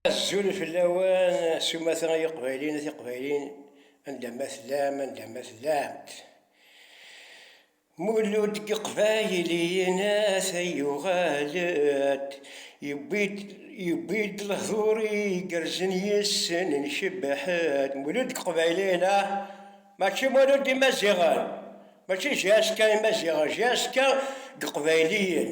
Azul fell-awen s umata ay iqbayliyen a tiqbayliyin anda ma tellam anda ma tellamt. Mulud deg iqbayliyen ata yuɣal-d yewwi-d yewwi-d lehdur igerrzen yes-sen ncebbeḥ-d. Mulud deg iqbayliyen a mačči mulud d imaziɣen mačči JSK imaziɣen JSK deg iqbayliyen.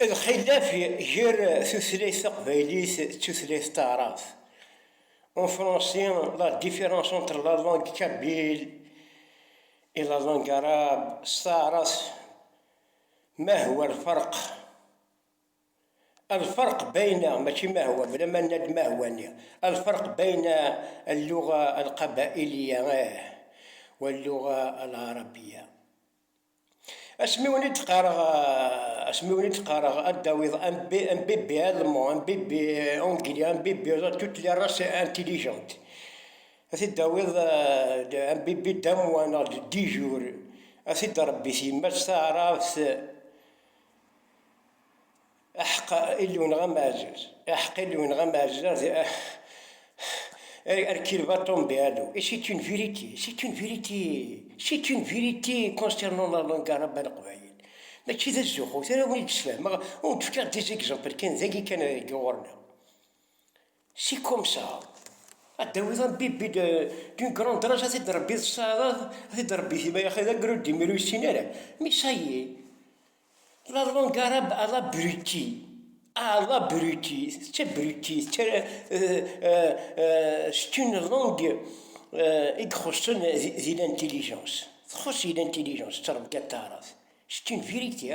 Lxilaf ger tutlayt taqbaylit d tutlayt taɛrabt. En français, la différence entre la langue kabyle et la langue arabe, s taɛrabt, ma huwa lferq? Lferq beyna, mačči ma huwa, bla ma nenna-d ma huwa-nni, lferq beyna lluɣa lqabailiya wa lluɣa lɛarabiya. Asmi wen i d-qqareɣ, asmi wen i d-qqareɣ ad d-tawiḍ un bébé, un bébé allemand, un bébé anglais, un bébé toutes les races intelligentes, ad t-id-tawiḍ un bébé d'un mois neɣ de dix jours, ad t-id-tṛebbi-t yemma-s taɛrabt. Aḥeqqa Illu-nneɣ ameɛzuz. Aḥeqqa Illu-nneɣ ameɛzuz ad Hercule va tomber à l'eau. Et c'est une vérité, c'est une vérité, c'est une vérité concernant la langue arabe à l'Aqbayel. Mačči d azuxxut ara wen-id-sfehmeɣ, ur wen-d-fkiɣ des exemples kan, dagi kan deg ɣur-neɣ. Si komsa, ad d-tawiḍ ambibi d'une grande rage, ad t-id-rebbi tesɛiḍ, ad t-id-rebbi tima yaxi d agrud imi ur yessin ara, mais ça y est, la langue arabe a l'abruti, a l'abruti, c'est abruti, c'est une langue i ixuṣṣen di l'intelligence, txuṣṣ di l'intelligence, tettrebga taɛrabt, c'est une vérité.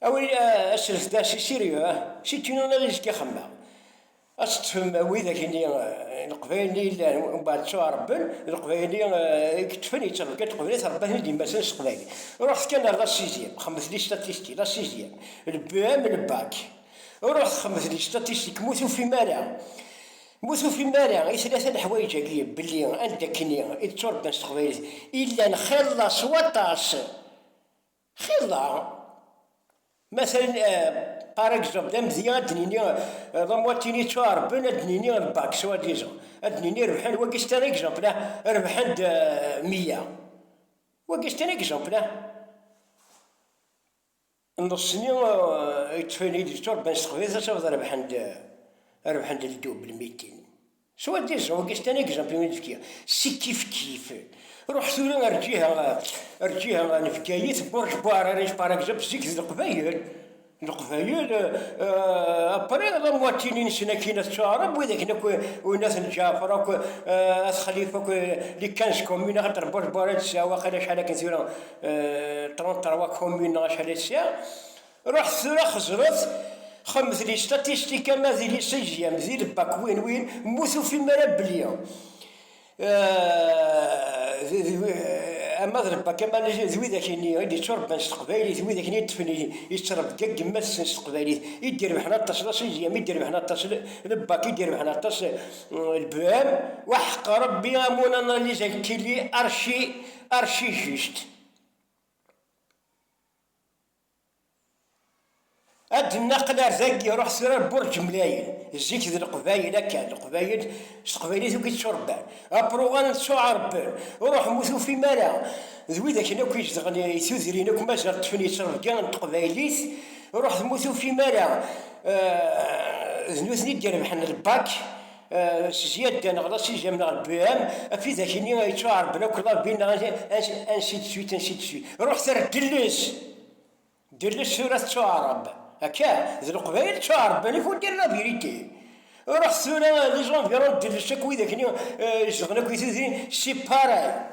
Awi aselfda si Siryu, si tinuna i zga xemma. Ad teṭṭfem widak-nni leqbayel-nni yellan, mbaɛd ttuɛrebben, d leqbayel-nni i yeṭṭfen yettabeggad qbel ad trebbaten i d-yemmasen s teqbaylit. Ruḥet kan ar la sixième, xemmet li statistiques, la sixième, le BEM, le bac. Ruḥet xemmet li statistiques, m'ur tufim ara, m'ur tufim ara i tlata leḥwayeǧ-agi belli anda-kkni i d-tturebban s teqbaylit, illan xilla s waṭas. Xir daɣ, ma ten par exemple, d amedya ad d-nini d amwatin yettuɛerben ad d-nini d bac soit disant, ad d-nini rebḥen wagi c'est un exemple ah, rebḥen-d meyya, wagi c'est un exemple ah, neṣṣni yettfenin-d yetturebban s teqbaylit ad tafeḍ rebḥen-d rebḥen-d le double, mitin. Swal di Uzbekistan i yeẓẓa Pimil Vkia si kif-kif. Ruḥ tura ar lǧiha ar lǧiha n Bgayet, Burj Buhar ara yesparagzab zik d Leqbayel, Leqbayel, après la moitié nsen akkin at Tuɛrab, wid akken akk Ounat n Ǧaɛfar akk at Xalifa akk les quinze communes axaṭer Burj Buhar ad tesɛu waqila acḥal akken tura trente trois communes neɣ acḥal i tesɛa. Ruḥet tura xezret, xemmet li statistika ma di li sixième, di le bac win win, m'ur tufim ara belli ama d le bac ama d widak-nni i d-itturebban s teqbaylit, widak-nni i ṭṭfen ittrebga yemma-tsen s teqbaylit, i d-irebḥen aṭas la sixième, i d-irebḥen aṭas le bac, i d-irebḥen aṭas le BEM, waḥeq Rebbi a mon analyse elle tilli archi, archi juste. Ad d-nnaqel ar dagi, iruḥ tura ar Burǧ Mlayen. Zik d Leqbayel akka, Leqbayel s teqbaylit akk i tturebban. Apruɣan ttuɛerbben, ruḥem ur tufim ara. D wid akken akk izedɣen i tudrin akk mazal ṭṭfen yettrebgi n teqbaylit, ruḥet ma ur tufim ara. D nutni i d-irebḥen lbak. s zzyadda neɣ d asizzam neɣ lbiham, af idak-nni ay yettwaɛerben akk labi neɣ ansi d suite, ansi d suite. Ruḥet ar Delles! Delles tura tettwaɛreb. Akka, d Leqbayel ttwaɛerben, il faut dire la vérité. Ruḥet tura les environs de Delles akk widak-nni izedɣen akk i tudrin, c'est pareil.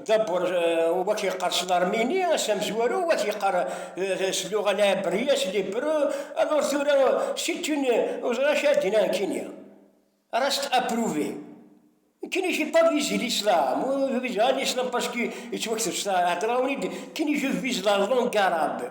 Dabbur eh, wak yeqqar s larmini, ass amezwaru wak yeqqar eh, s luɣa lɛebriya, s libru, alors tura c'est une ur ẓriɣ acu ad d-iniɣ nekkini. Reste approuvé. Nekkini j'ai pas visé l'islam, ur viseɣ ara l'islam parce que yettwakteb s heddreɣ-awen-id, nekkini je vise la langue arabe.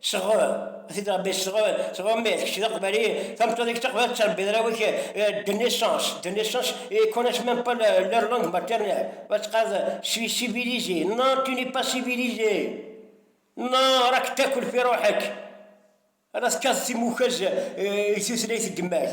Sɣur, t-id Rebbi sɣur, sɣur mmi, kečč d aqbali, tameṭṭut-ik taqbali tettrebbiḍ arraw-ik de naissance, de naissance, ils connaissent même pas leur langue maternelle, ma teqqareḍ je suis civilisé, non tu n'es pas civilisé, non rak takul fi ruḥek, ara tekkateḍ timukaz i tutlayt n yemma-k.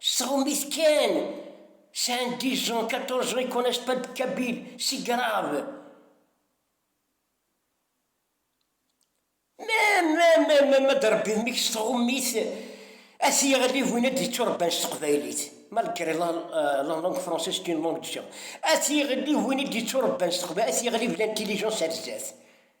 Sɣumit kan! Sɛan dix ans, quatorze ans, ils connaissent pas de kabyle, c'est grave! Ma ma ma ma ma d-rebbi mik s tɣummit, ad t-yeɣli win ad d-yetturebban s teqbaylit, malgré la la langue française est une langue de gens, ad t-yeɣli win i d-yetturebban s teqbaylit, ad t-yeɣli bla intelligence ar zdat.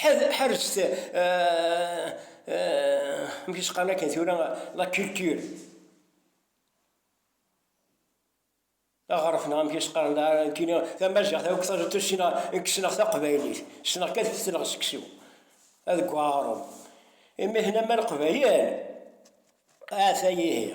ḥerjt amek isqan akken tura la culture aɣref neɣ amek isqan kini tamaziɣt akk taẓet ssneɣ kkesneɣ taqbaylit ssneɣ kan ssneɣ seksu ad gwa aɣrum imi hna ma leqbayel ata yihi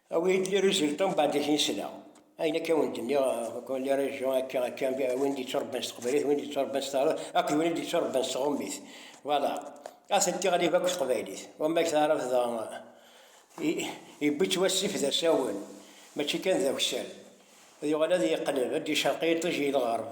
Awi-yi-d li résultats mbeɛd ad ten-sleɣ. Ayen akka wen d-nniɣ akk li régions akka akka win d-yettrebban s teqbaylit win d-yettrebban s taɛrabt akked win d-yettrebban s tɣummit voilà atenti ɣlib akk teqbaylit wamma deg taɛrabt dɣa yewwi-tt wassif d asawen mačči kan d akessar ad yuɣal ad yeqleb ad d-icerq yiṭij i lɣerb.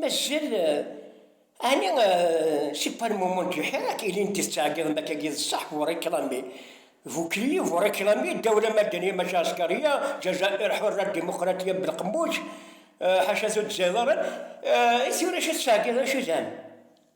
Mazal ɛni Sipar Mumun d lḥir akka ilin d-tettɛeggiḍ mak agi d ṣṣeḥ bu réclame bu kelli bu réclame Dawla Madaniya maca Ɛeskariya, Jazair Hurra Dimuqratiya Belqemmuc ḥaca tuddza iḍarren i tura acu tettɛeggiḍ acu zhan?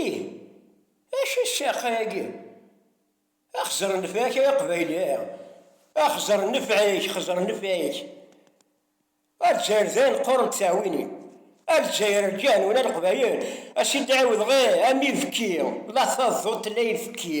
Ih, acu i ssirqa yagi? A xezer nnfeɛ-k ay aqbayli! A xezer nnfeɛ-k, xezer nnfeɛ-k! A Lezzayer dayen qqurent ttɛewwinin! A Lezzayer rǧan ula Leqbayel a s-in-d-ɛiwdeɣ ih am ibekki, la taḍḍut la ibekki!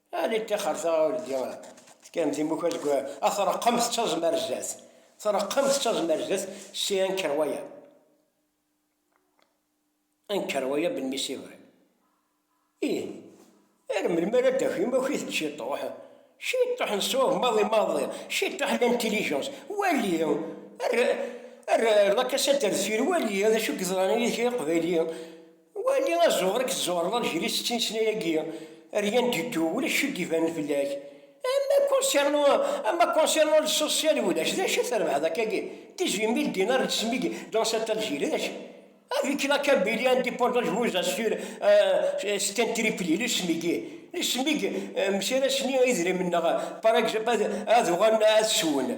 Ani ṭṭixer-ta ur d tefkam timukka deg ad treqqem tettaẓem ar zdat. Treqqem tettaẓem ar zdat si anker waya. Anker waya ben mi sibri. Ih, ar melmi ara d-ak imakit n ciṭuḥ? Ciṭuḥ n ṣṣwab maḍi maḍi, ciṭuḥ n l'intelligence. Wali, ar la casa del fil, wali d acu i yeḍran yid-k ay aqbayli. Wali azuɣer i k-tzuɣreḍ ad gris d tinesnay-agi, rien du tout, ulac acu d-ibanen fell-ak. Ama concernant, ama concernant le social ulac, d acu i trebḥeḍ akkagi? 18 mille dinars de SMIC dans cette Algérie, d acu? Avec la Kabylie indépendante je vous assure, c'est un tripli, le SMIC, le SMIC, msirasen-iyi idrimen-nneɣ, par exemple, ad uɣalen ad swen.